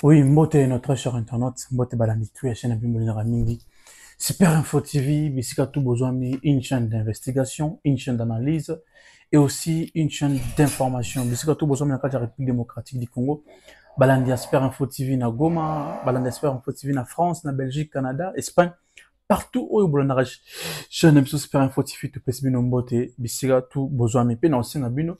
Oui, mbote notre cher internaute, mbote balandi tout ya chaîne Bimboli na mingi. Super Info TV, bisika tout besoin mi une chaîne d'investigation, une chaîne d'analyse et aussi une chaîne d'information. Bisika tout besoin na kati République démocratique du Congo. Balandi ya Super Info TV na Goma, balandi ya Super Info TV na France, na Belgique, Canada, Espagne, partout oyo bolandaka chaîne biso Super Info TV topesi bino mbote bisika tout besoin mi pe na osenga bino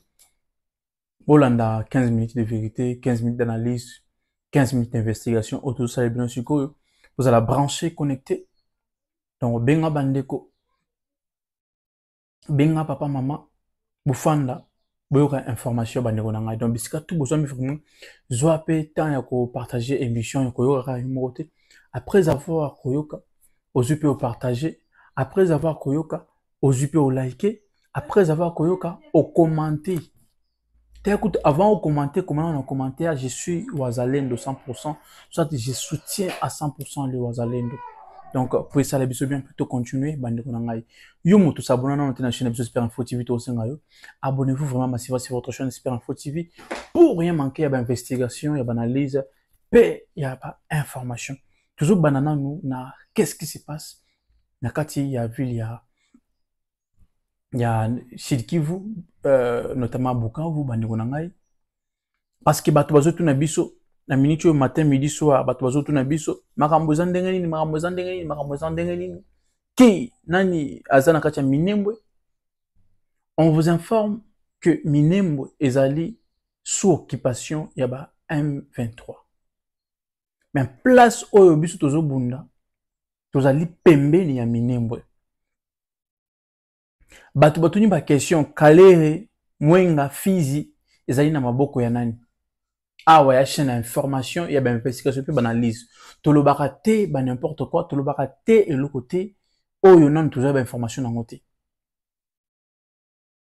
bolanda 15 minutes de vérité 15 minutes d'analyse 15 minutes d'investigation oyo tozosala bino sikoyo bozala branché connecté donc benga bandeko benga papa mama bofanda boyoka information bandeko na ngai donc bisika tu bozwami vraiment zwa mpe temps ya kopartage émission ya koyoka kaka yo moko te après avoir koyoka ozwi mpe opartage après avoir koyoka ozwi mpe olike après avoir koyoka okomante taya kutu avant okomante komana na commentaire je suis wazalendo 100 soit je soutiens à 100 le wazalendo donc po esala biso bien plutôt continuer bandeko na ngai yo moto sabona nano te na chaîne ya biso super info tv tokosenga yo abonnez vous vraiment masiva sur votre chaîne super info tv pour rien manquer ya bainvestigation ya baanalyse mpe ya bainformation tozobanda nanu na qu'est ce qui se passe na kati ya ville ya ya Sud Kivu euh, notamment Bukavu bandeko na ngai parce que bato bazotuna biso na minute oyo matin midi soir bato bazotuna biso makambo eza ndenge nini makambo eza ndenge nini makambo eza ndenge nini ki nani aza na kati ya Minembwe on vous informe que Minembwe ezali sous occupation ya ba M23 mais place oyo biso tozobunda tozali pembeni ya minembwe bato batuni bakestion kalere mwenga fizi ezali na maboko ya nani awa ya chaîne ya information ya bainvestigation mpe baanalyse tolobaka te ba n'importe quoi tolobaka te eloko te oyo nano tozwa bainformation yango te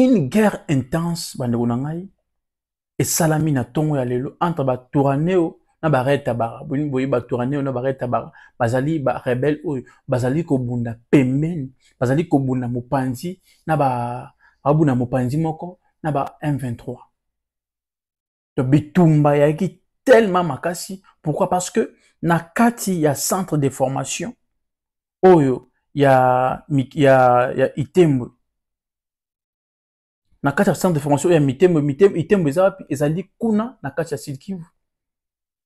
une guerre intense bandeko na ngai esalami na ntongo ya lelo entre baturaneo na barele tabara boye baturaneo na barele tabara bazali barebele oyo bazali kobunda pembeni bazali kobunda mopanzi na babunda mopanzi moko na ba m23 to bitumba yaki tellement makasi pourquoi parce que na kati ya centre de formation oyo ya, ya, ya itembo na kati ya centre de formation ya mitembo mitembo itembo eza wapi ezali kuna na kati ya sud kivu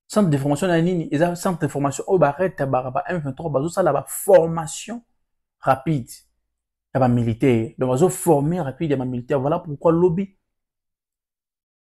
centre de formation na nini eza centre de formation oyo baretabaka ba m23 bazosala baformation rapide ya bamilitaire donc bazoforme rapide ya bamilitaire voilà pourquoi lobi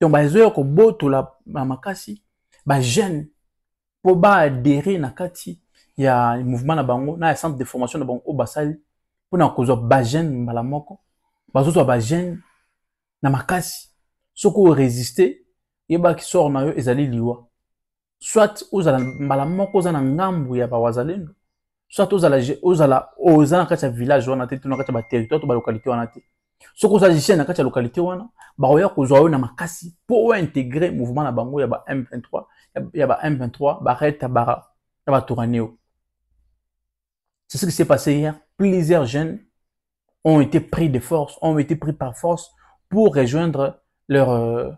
donc bazoya kobotola na makasi bajeune mpo baadere na kati ya mouvement na bango na ya centre de formation na bango oyo basali mpona kozwa bajeune mbala moko bazozwa bajeune na makasi soki oresiste yebaki sor na yo ezali liwa soit ozala mbala moko oza na ngambu ya bawazalendo soit ozala ozala oza na kati ya village wana te to na kati ya baterritoire to balocalité wana te soki oza jeune na kati ya localité wana bakoya kozwa yo na makasi mpo ointegre mouvement na bango ya ba m23 ya ba m23 baret tabara ya batoraneo c'est ce qui s'est passé hier plusieurs jeunes ont été pris de force ont été pris par force pour rejoindre leur euh,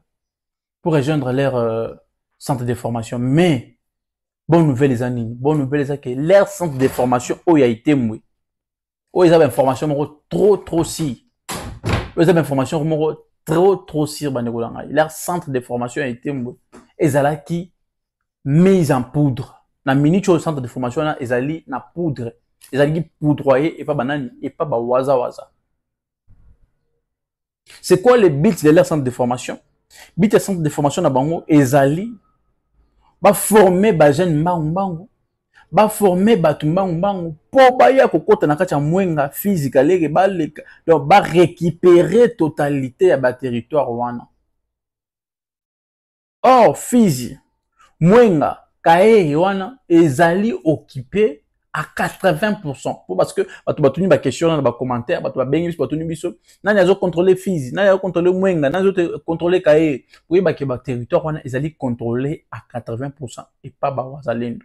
pour rejoindre leur euh, centre de formation mais bonne nouvelle eza nini bonne nouvelle eza que leur centre de formation oyo ya itemwe oyo eza bainformation moko trop trop sire oyo eza bainformation moko trop trop sire bandeko na ngai leur centre de formation ya itemwe ezalaki mise en poudre na minute oyo centre de formation wana ezali na poudre ezalaki poudroye epa banani epa bawazawaza C'est quoi le but de leur centre de formation But ya centre de formation na bango ezali ba former ba jeunes mbangu mbangu ba former bato mbangu mbangu mpo baya kokota na kati ya mwenga physique aleke baleka donc ba récupérer totalité ya ba territoire wana or fizi mwenga kaehe wana ezali okipe à 80% po parce que bato batuni ba question wana na ba commentaire bato babengi biso batuni biso nani azo contrôler fizi nani azo contrôler mwenga nani azo contrôler kaye koyeba ke ba territoire wana ezali contrôler à 80% epa ba wazalendo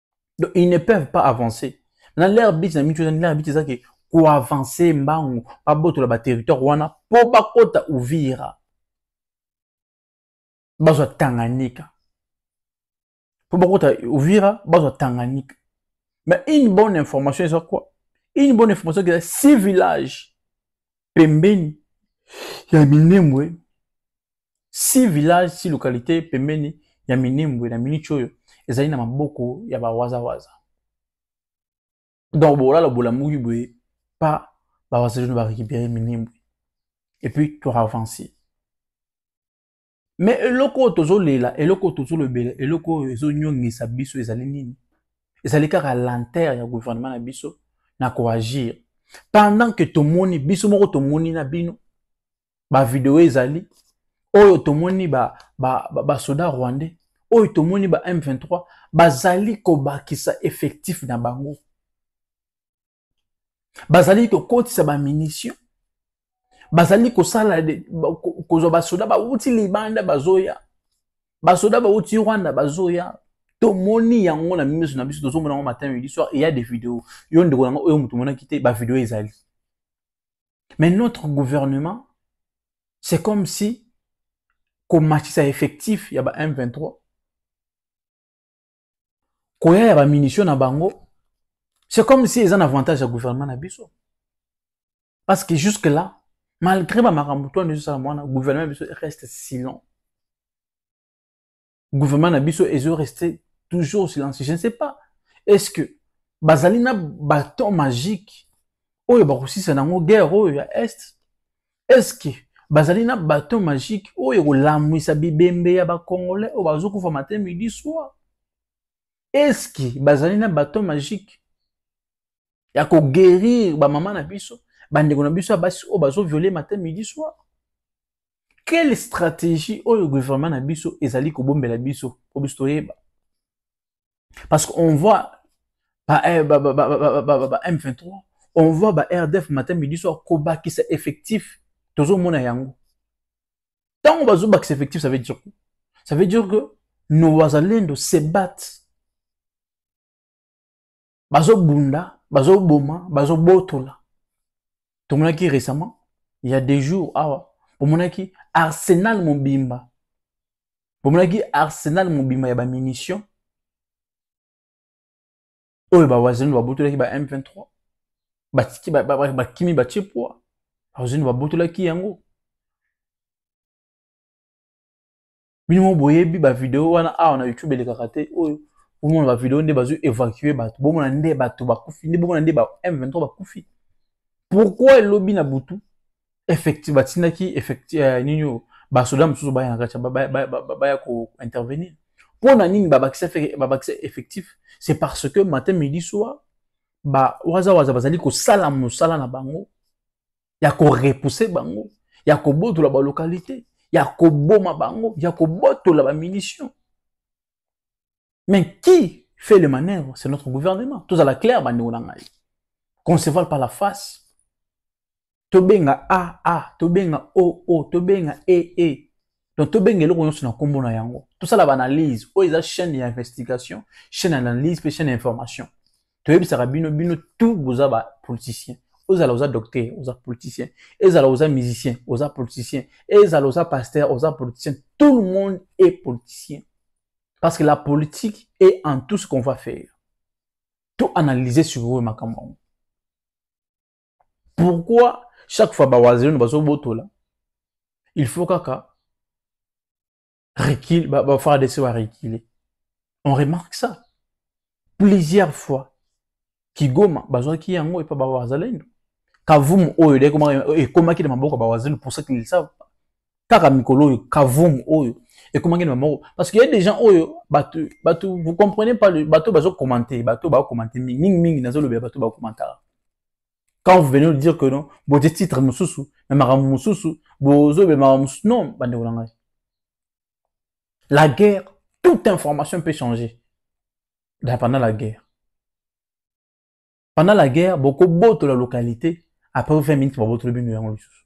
donc ils ne peuvent pas avancer na leur but na mitu leur but eza ke koavanse mbangu babotola baterritoire wana mpo bakota uvira bazwa tanganyika mpo bakota uvira bazwa tanganyika mais une bonne information eza quoi une bonne information eza si village pembeni ya minembwe si village si localité pembeni ya minembwe na miniti oyo ezali na maboko ya bawazawaza donc bolala bolamuki boye pa bawazalino barécupere minembwe et puis toavancer me eloko oyo tozolela eloko oyo tozolobela eloko oyo ezonyongisa biso ezali nini ezali kaka lantere ya gouvernement na biso na koagir pendant ke tomoni biso moko tomoni na bino ba video ezali oyo tomoni ba ba, ba, ba soda rwandais oyo tomoni ba M23 bazali kobakisa effectif na bango bazali kokotisa ba munition bazali kosala kozwa basoda bawuti libanda bazoya basoda bawuti rwanda bazoya tomoni yango na miso na biso tozomona yango matin midi soir eya de video yo ndeko yango oyo moto omonaki te bavideo ezali Mais notre gouvernement, c'est comme si komatisa effectif ya ba M23 koya ya ba munitions na bango, c'est comme si eza un avantage ya gouvernement na biso. Parce que jusque là, malgré ba makambo to ndezo sala mwana gouvernement biso reste silent. gouvernement na biso ezo rester toujours silencieux je ne sais pas est ce que bazali na baton magique oyo bakosisa nango guerre oyo ya est est ce que bazali na baton magique oyo ekolamwisa bibembe ya bacongolais oyo bazokufa matin midi soir est ce que bazali na baton magique ya ko guérir ba mama na biso ba ndeko na biso ya basi oyo bazo violer matin midi soir quelle stratégie oyo gouvernement na biso ezali kobombela biso po biso toyeba parce qu'on voit ba, eh, ba, ba, ba, ba, ba, ba M23 on voit ba RDF matin midi soir kobakisa effectif tozomona yango ntango bazobakisa effectif ça veut dire quoi ça veut dire que nos wazalendo se battent bazobunda bazoboma bazobotola tomonaki récemment il y a des jours awa omonaki arsenal mobimba bomonaki arsenal mobimba ya bamunition oyo bawazendo babotolaki ba m23 batiki bakimi batie poa bawazendo babotolaki yango bino mo boyebi bavideo wana awa na youtube elekaka te oyo bomona bavideo nde bazwi évacue bato bomona nde bato bakufi nde bomona nde ba m23 bakufi pourquoi elobi na butu effecti batindaki effecti uh, nini oyo basoda mosusu baya na kati baya kointervenir mpo na nini babakisa effectif c'est parce que matin midi soir bawazawaza bazali kosala mosala na bango ya korepuse bango ya kobotola balokalite ya koboma bango ya kobotola bamunition mais qui fait le manœuvre c'est notre gouvernement tozala claire bandeko na ngai conceval par la face tobenga aa tobenga oo tobenga ee Donc, to benga eloko nyonso na kombo na yango. Tout ça la analyse. Oyo eza chaîne ya investigation, chaîne d'analyse pe chaîne d'information. To yebisaka bino bino tout boza ba politiciens. Ozala oza docteur, oza politicien. Ezala oza musicien, oza politicien. Ezala oza pasteur, oza politicien. Tout le monde est politicien. Parce que la politique est en tout ce qu'on va faire. Tout analyser sur eux makambo. pourquoi chaque fois bawazirino bazobotola il faut kaka recule bafardc barecule on remarque ça plusieurs fois kigoma bazwaki yango epa bawazalendo kavumu oyo ekomaki na maboko ya bawazalendo pour ça qu'ils savent kaka mikolo oyo kavum oyo ekomaki na moko parce que ya des gens oyo bato bato vous comprenez pas le bato bazo commenter bato ba commenter mingi mingi mingi nazo lobela bato ba commentaka quand vous venez de dire que non bote titre mosusu na makambo mosusu bozo be makambo mosusu non bandeko na ngai la guerre toute information peut changer da pendant la guerre pendant la guerre bokobotola localité après 20 minutes babotoli bino yango lisusu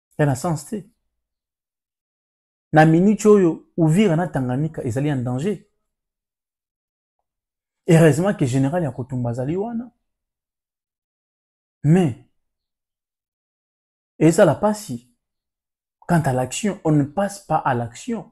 ya na sens te na minute oyo uvira na tanganyika ezali en danger heureusement que général ya kotumba azali wana mais ezala mpasi quant à l'action on ne passe pas à l'action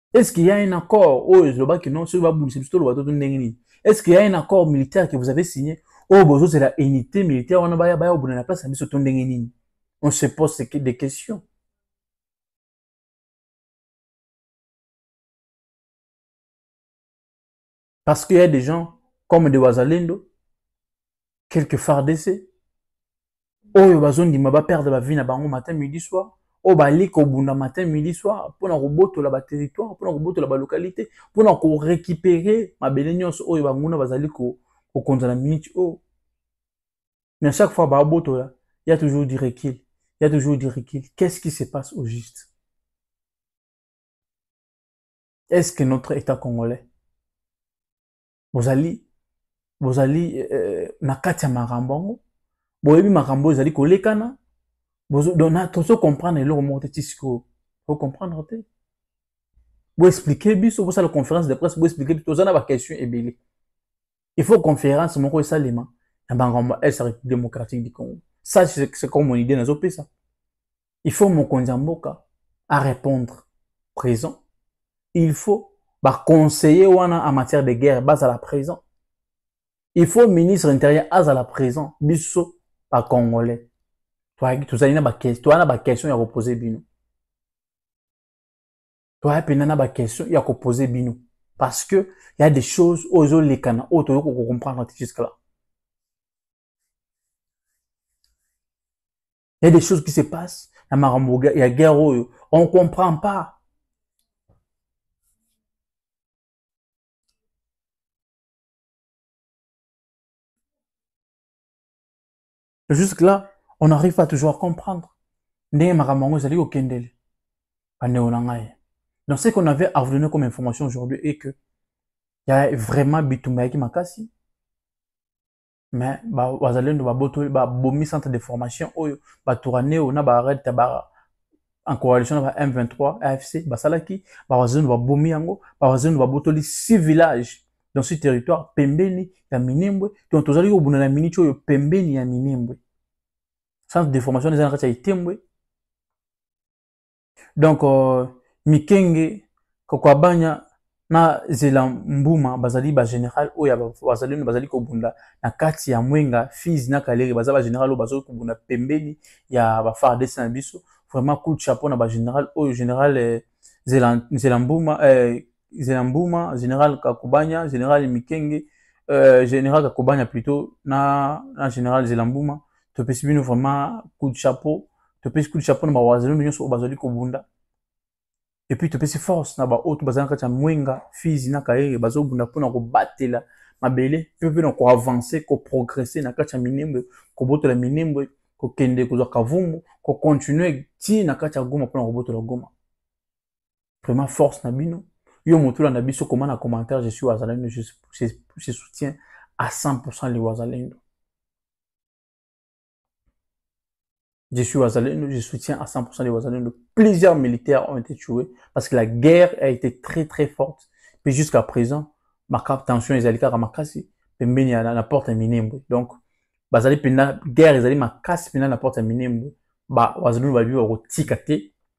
est ce qu'il y a un accord oyo ezlobaki non soki babundisa biso toloba to ndenge nini est ce qu'il y a un accord militaire que vous avez signé oyo bozozela unité militaire wana baya baya kobunda na place na biso to ndenge nini on se pose des questions Parce qu'il y a des gens comme des Wazalendo, quelques FARDC, oyo bazondima baperdre bavie na bango matin midi soir oyo bali kobunda matin midi soir mpona kobotola baterritoire mpona kobotola balocalité mpona korécupere mabele nyonso oyo banguna bazali kokonza na minute oyo mais à chaque fois babotola ya toujours du recul ya toujours du recul qu'est ce qui se passe au juste est ce que notre état congolais bozali bozali euh, na kati ya makambo yango boyebi makambo ezali kolekana tozo comprendre eloko moko te ti sikoyo ocomprendre te boexplike biso bosala conférence de presse boexplike biso toza na baquestion ebele il faut conférence moko esalema na bangambo ya est république démocratique du congo ça c'est comme mon idée nazopesa il faut mokonzi ya mboka a répondre présent il faut baconseiller wana en matière de guerre bazala présent il faut ministre intérieur azala présent biso bacongolais tozali na toya na baquestion ya kopose bino toya mpenza na baquestion ya kopose bino parce que y a des choses oyo ezolekana oyo toyoki kocomprendre te jusque là Il y a des choses qui se passent. Na makambo ya guerre oyo, on comprend pas. Jusque là, on n'arrive pas toujours à comprendre. Ndenge makambo yango ezali kokendele. Bandeko na ngai. Donc ce qu'on avait à vous donner comme information aujourd'hui est que il y a vraiment bitumba yaki makasi mais bazalendo babotoli babomi centre de formation oyo baturaneo na bared tabara en coalition na ba m23 afc basalaki bawazalendo babomi yango bawazalendo babotoli six villages dans ce territoire pembeni ya minembwe donc tozali kobunda na miniti oyo pembeni ya minembwe centre de formation eza na kati ya itembwe donc euh, mikenge kokwabanya na zela mbuma bazali bagénéral oyo bazali bazali kobunda na kati ya mwenga fise na kaleri baza bagénéral oyo bazali kobunda pembeni ya bafardc na biso vraiment coup de chapeau na bagénéral oyo général euh, zela mbuma euh, Zena Mbuma, General Kakubanya, General Mikenge, euh, General Kakubanya plutôt, na, na General Zela Mbuma. Topesi bino vraiment coup de chapeau. Topesi coup de chapeau na bawazelo nyonso oyo bazali kobunda. Et puis topesi force na baoyo to bazali na kati ya Mwenga, Fizi na Kaere bazobunda mpo na kobatela mabele mpe mpe na koavancer, koprogresse na kati ya Minembwe, kobotola Minembwe, kokende kozwa Kavumu, kocontinue ti na kati ya Goma mpo na kobotola Goma. vraiment force na bino yo moto olanda biso koma na commentaire je suis wazalendo je, je, je soutiens à 100% les wazalendo je suis wazalendo je soutiens à 100% les wazalendo plusieurs militaires ont été tués parce que la guerre a été très très forte puis jusqu'à présent ma tension ezali kaka makasi pembeni ya na porte ya minembwe donc bazali mpenza guerre ezali makasi mpenza na porte ya minembwe ba wazalendo babi bakotika te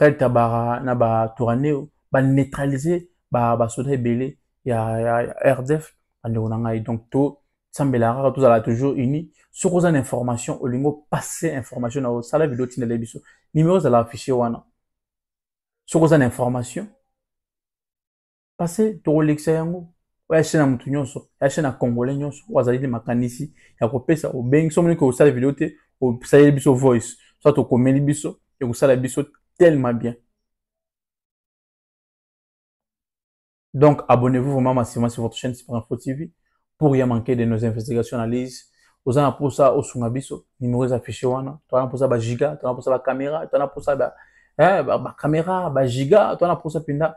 Red Tabara na ba Touraneo ba neutraliser ba ba soda ebele ya, ya, ya RDF bandeko na ngai donc to sambela kaka tozala toujours unis soki oza na information olingi opase information na osala video tindela biso nimero ezala affiche wana soki oza na information pase tokolekisa yango oyo achaine ya motu nyonso achaine ya congolais nyonso oyo azali na makanisi ya kopesa obengi so omoniki osala video te osaleli biso voice so tokomeli biso ekosala biso tellement bien donc abonnez-vous vraiment massivement sur votre chaîne Super Info TV pour rien manquer de nos investigations analyses oza na mposa osunga biso nimero eza affiche wana toza na mposa bagiga toza na mposa bacaméra toza na mposa bacaméra bagiga toza na mposa mpenza